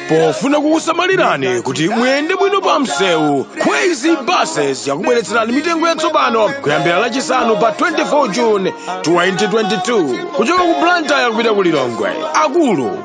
pofuna kukusamalirani kuti muyende bwino pa msewu kwezy buses yakubweretserani mitengo yatsopano kuyambira lachisanu pa 24 june 2022 kuchoka ku blantyre kupita ku lilongwe akulu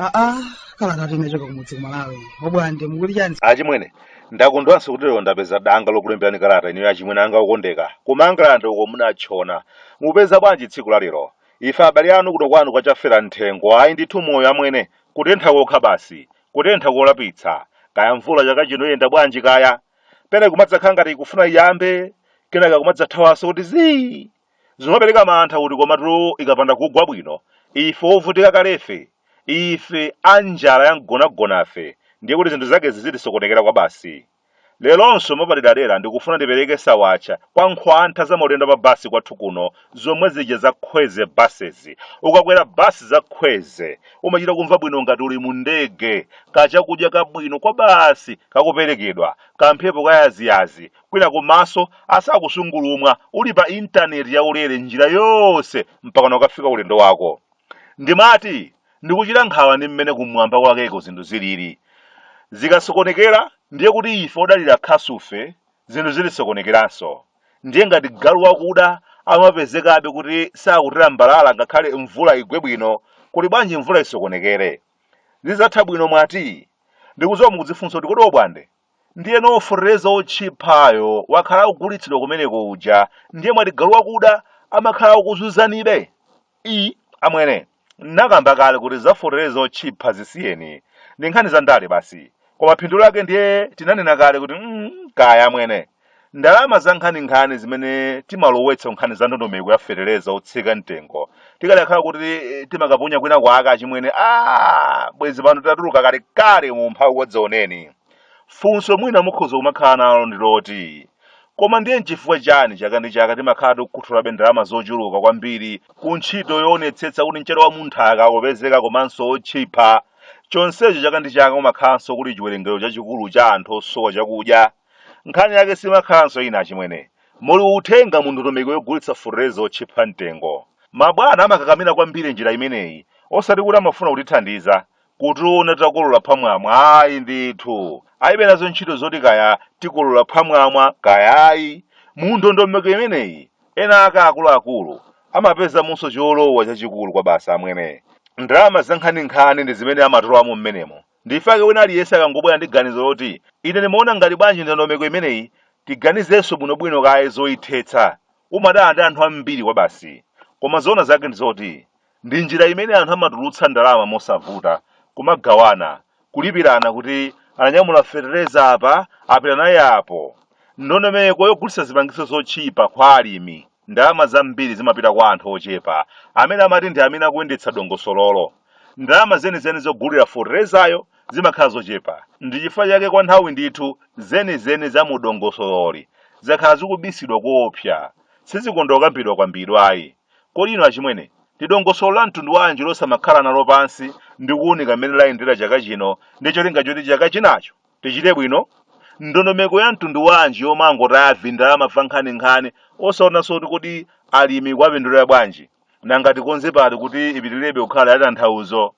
aa kalata tinachoka kumudzi kumalawi obwande mukuti chani achimwene ndakondwanso kuti lero ndapeza danga lokulemberani kalata ineyo achimwene anga okondeka kumangalande uko munatchona mupeza bwanji tsiku la lero ife abale anu kuno kwanu kwachafera mthengo ayi ndithu moyo amwene Kutentha kokha basi, kutentha kolapitsa. Kaya mvula chaka chino iyenda bwanji kaya? Pena ikumadzakhala ngati ikufuna iyambe, kenaka kumadzathawanso kuti zii! Zimapereka mantha kuti komatu ikapanda kugwa bwino, ife ovutika kalefe, ife a njala ya mgonagonafe, ndiye kuti zinthu zake zizitisokonekera kwabasi. Leronso mwapaderadera ndikufuna ndipereke sawatcha kwa nkhwantha za maulendo a pa basi kwathu kuno zomwe zija za Kwezy Buses. Ukakwera basi za Kwezy umachita kumva bwino ngati uli mu ndege. Kachakudya kabwino kwabasi kakuperekedwa, kamphepo ka yaziyazi, kwinaku maso asakusungulumwa uli pa internet yaulere njira yonse mpakana ukafika ulendo wako. Ndimati Ndikuchita nkhawa ndi mmene kumwamba kwakeko zinthu zilili. Zikasokonekera ndiye kuti ife odalira khasufe zinthu zitisokonekeranso. Ndiye ngati galu wakuda amapezekabe kuti sakutilambalala ngakhale mvula igwe bwino, kuli bwanji mvula isokonekere? Zidzatha bwino mwati? Ndikudziwa mukudzifunsa kuti kodi Obwande ndiyeno fetereza wotchiphayo wakhala akugulitsidwa kumeneko uja ndiye mwati galu wakuda amakhala akukuzunzanibe i amwene nakamba kale kuti za fetereza wotchipha zisiyeni ndi nkhani za ndale basi koma phindu lake ndiye tinanena kale kuti mm, kaya amwene Ndalama zankhaninkhani zimene timalowetsa kunkhani za ndondomeko ya fetereza wotsika mtengo tikadakhala kuti eh, timakaponya kwina kwake achimwene aa bwezi pano tatuluka kalekale mu umphawi wadzaoneni. Funso mwina mukhoza kumakhala nalo ndi loti koma ndiye nchifukwa chani chaka ndi chaka timakhala tikukhuthulabe ndalama zochuluka kwambiri ku ntchito yoonetsetsa kuti mchere wa munthaka ukupezeka komanso wotchipa chonsecho chaka ndi chaka kumakhalanso kuli chiwerengero chachikulu cha anthu osowa chakudya Nkhani yake simakhalanso ina achimwene. Muli uthenga mu ndondomeko yogulitsa fetereza otchipa mtengo. Mabwana amakakamira kwambiri njira imeneyi osati kuti amafuna kutithandiza kutiona titakolola phwamwamwa ayi ndithu. Alibe nazo ntchito zoti kaya tikolola phwamwamwa kaya ayi. Mu ndondomeko imeneyi ena ake akuluakulu amapezamonso cholowa chachikulu kwabasi amwene. Ndalama zankhaninkhani ndi zimene amatolamo m'menemo. Ndifake wina aliyense akangobwera ndi ganizo loti ine ndimaona ngati bwanji ndondomeko imeneyi tiganizenso bwinobwino kaye zoithetsa. Umadana ndi anthu ambiri kwabasi. Koma zoona zake ndi zoti ndi njira imene anthu amatulutsa ndalama mosavuta, kumagawana, kulipirana kuti ananyamula fetereza apa apita naye apo. Ndondomeko yogulitsa zipangizo zotchipa kwa alimi. Ndalama zambiri zimapita kwa anthu ochepa amene amati ndi amene akuyendetsa dongosololo. Ndalama zenizeni zogulira feterezayo zimakhala zochepa. Ndi chifukwa chake kwa nthawi ndithu zenizeni za mu dongosololi zakhala zikubisidwa koopsa. Sizikonda kukambidwakambidwa ayi. Kodi inu achimwene, ndi dongosolo la mtundu wanji losamakhala nalo pansi ndi kuunika m'mene layendera chaka chino ndi cholinga choti chaka chinacho Tichite bwino? Ndondomeko ya mtundu wanji yomangotaya vindalama va nkhaninkhani osaonanso kuti kodi alimi ikuwapindulira bwanji? Nanga tikonze pati kuti ipitilirebe kukhala yatanthauzo?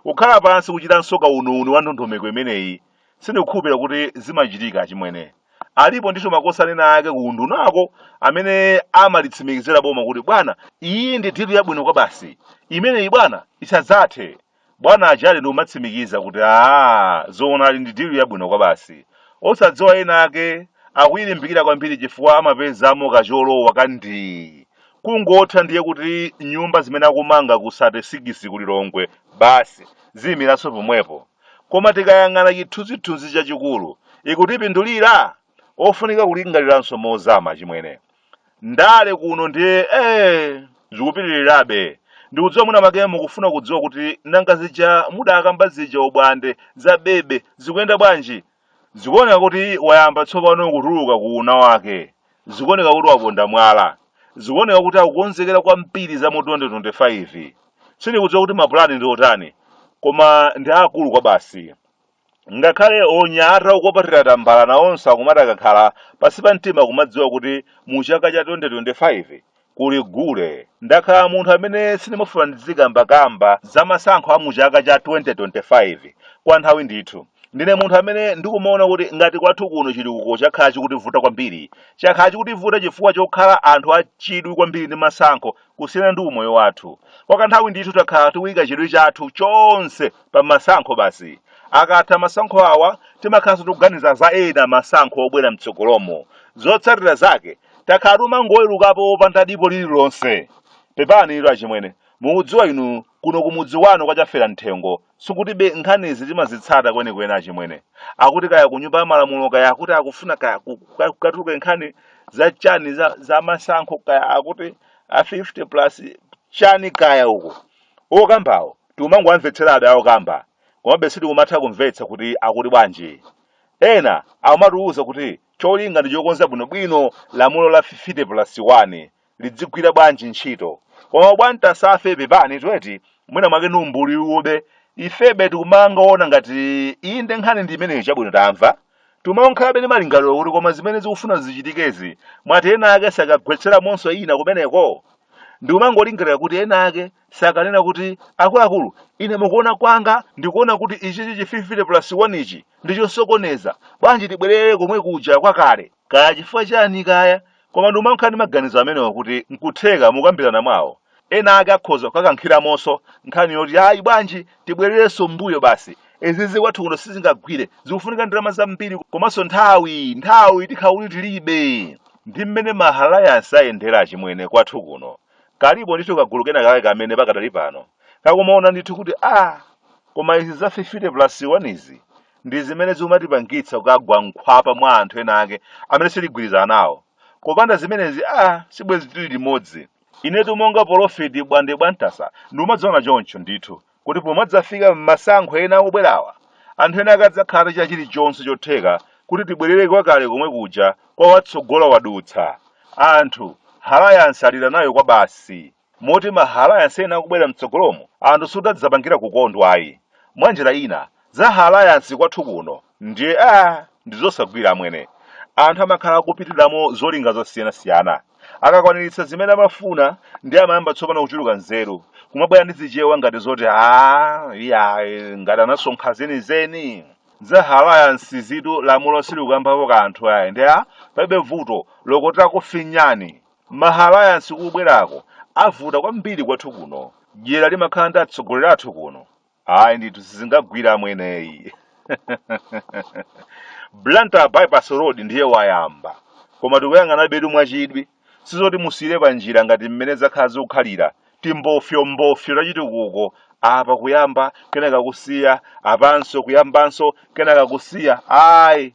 Kukhala pansi kuchitanso kauniuni wa ndondomeko imeneyi sindikukhulupirira kuti zimachitika achimwene. Alipo ndithu makosana ena ake ku undunako amene amalitsimikizira boma kuti bwana iyi ndi dilu yabwino kwabasi, imeneyi bwana isadzathe. bwana ajadi ndikumatsimikiza kuti aa zoonadi ndi dilu yabwino kwabasi osadziwa ena ake akuyilimbikira kwambiri chifukwa amapezamo kacholowa ka ndii kungotha ndiye kuti nyumba zimene akumanga ku 36 ku lilongwe basi ziyimiranso pomwepo koma tikayang'ana chithunzithunzi chachikulu ikutipindulira ofunika kulingaliranso mozama achimwene Ndale kuno ndiye ee zikupitirirabe. Ndikudziwa mwina mwake mukufuna kudziwa kuti nanga zija mudakamba zija obwande za bebe zikuyenda bwanji? Zikuoneka kuti wayamba tsopano kutuluka ku una wake. Zikuoneka kuti waponda mwala. Zikuoneka kuti akukonzekera kwambiri za mu 2025. Sindikudziwa kuti mapulani ndi otani, koma ndi aakulu kwabasi. Ngakhale onyamata okwapatira tambala nawonso akumati akakhala pansi pa mtima kumadziwa kuti mu chaka cha 2025 kuli gule. Ndakhala munthu amene sindimafuna ndizikambakamba za masankho a mu chaka cha 2025 kwa nthawi ndithu. Ndine munthu amene ndikumaona kuti ngati kwathu kuno chitukuko chakhala chikutivuta kwambiri, chakhala chikutivuta chifukwa chokhala anthu achidwi kwambiri ndi masankho kusiyana ndi umoyo wathu kwa kanthawi ndithu takhala tikuyika chidwi chathu chonse pa masankho basi akatha masankho awa timakhalanso tikuganiza za ena masankho obwera mtsogolomo zotsatira zake takhala tikumangowelukapo opanda dipo lililonse pepani ilo achimwene mukudziwa inu Kuno kumudzi wanu kwa Chafera Mthengo sikutibe nkhanizi timazitsata kwenikweni achimwene. Akuti kaya kunyumba ya malamulo kaya akuti akufuna kaya ku- kuka- kukatuluke nkhani za chani za, za masankho kaya akuti a 50 plus chani kaya uko okambawo tikumangowamvetserabe awo okamba komabe sitikumatha kumvetsa kuti akuti bwanji ena akumatiwuza kuti cholinga ndi chokonza bwinobwino lamulo la 50 plus 1 lidzigwira bwanji ntchito koma bwantasafe pepani tweti mwina mwake ni umbuli ube ifebe tikumangoona ngati inde nkhani ndi imeneyo chabwino tamva tikumakhalabe ni malingaliro kuti koma zimene zikufuna zichitikezi mwati ena ake sakagwetseramonso ina kumeneko ndikumangolingalira kuti ena ake sakanena kuti akuluakulu ine mukuona kwanga ndikuona kuti ichichi chi 50 plus 1 ichi ndichosokoneza bwanji tibwerere komwe kuja kwakale Kaya chifukwa chani kaya, koma ndikumakhala ndi maganizo amenewa kuti nkutheka mukukambirana mwawo, ena ake akhoza kukakankhilamonso nkhani yoti ayi bwanji tibwerelenso m'mbuyo basi, izizi kwathu kuno sizingagwire, zikufunika ndalama zambiri komanso nthawi, nthawi tikhala kuti tilibe. Ndi mmene ma alliance ayendera achimwene kwathu kuno. Kalipo ndithu kagulu kena kake kamene pakadali pano kakumaona ndithu kuti aah koma izi za fifite pulasi wanizi, ndi zimene zikumatipangitsa kukagwa mkhwapa mwa anthu ena ake amene sitigwirizana nawo kopanda zimenezi a sibwezi tili limodzi inetu monga polofiti bwande bwantasa ndikumaziona choncho ndithu kuti pomadzafika m'masankho ena akubwerawa anthu ena ake adzakhala atachita chilichonse chotheka kuti tibwerere kwakale komwe kuja kwa watsogola wadutsa anthu halayansi alira nayo kwa basi moti ma alliance ena akubwera mtsogolomo anthu sadzapangira kukondwa ayi mwanjira ina za ha alliance kwathu kuno ndiye a ndizosagwira amwene anthu amakhala akupitiramo zolinga zosiyanasiyana akakwaniritsa zimene amafuna ndiye amayamba tsopano kuchuluka nzeru kumabwera ndi zichewa ngati zoti a iyayi ngati anasonkha zenizeni za ha alliance zitu lamulo silikukambapo kanthu ayi ndiye a palibe vuto lokotera kufinyani Ma alliance kubwerako avuta kwambiri kwathu kuno. Dyera limakhala ndi atsogoleri athu kuno. Ayi ndithu sizingagwire amweneyi. Blantyre bypass road ndiye wayamba. Koma tikuyang'anabetu mwachidwi. Sizoti musiyire panjira ngati mmene zakhala zikukhalira. Timbofyombofyo tachitukuko apa kuyamba kenaka kusiya apanso kuyambanso kenaka kusiya. Ayi.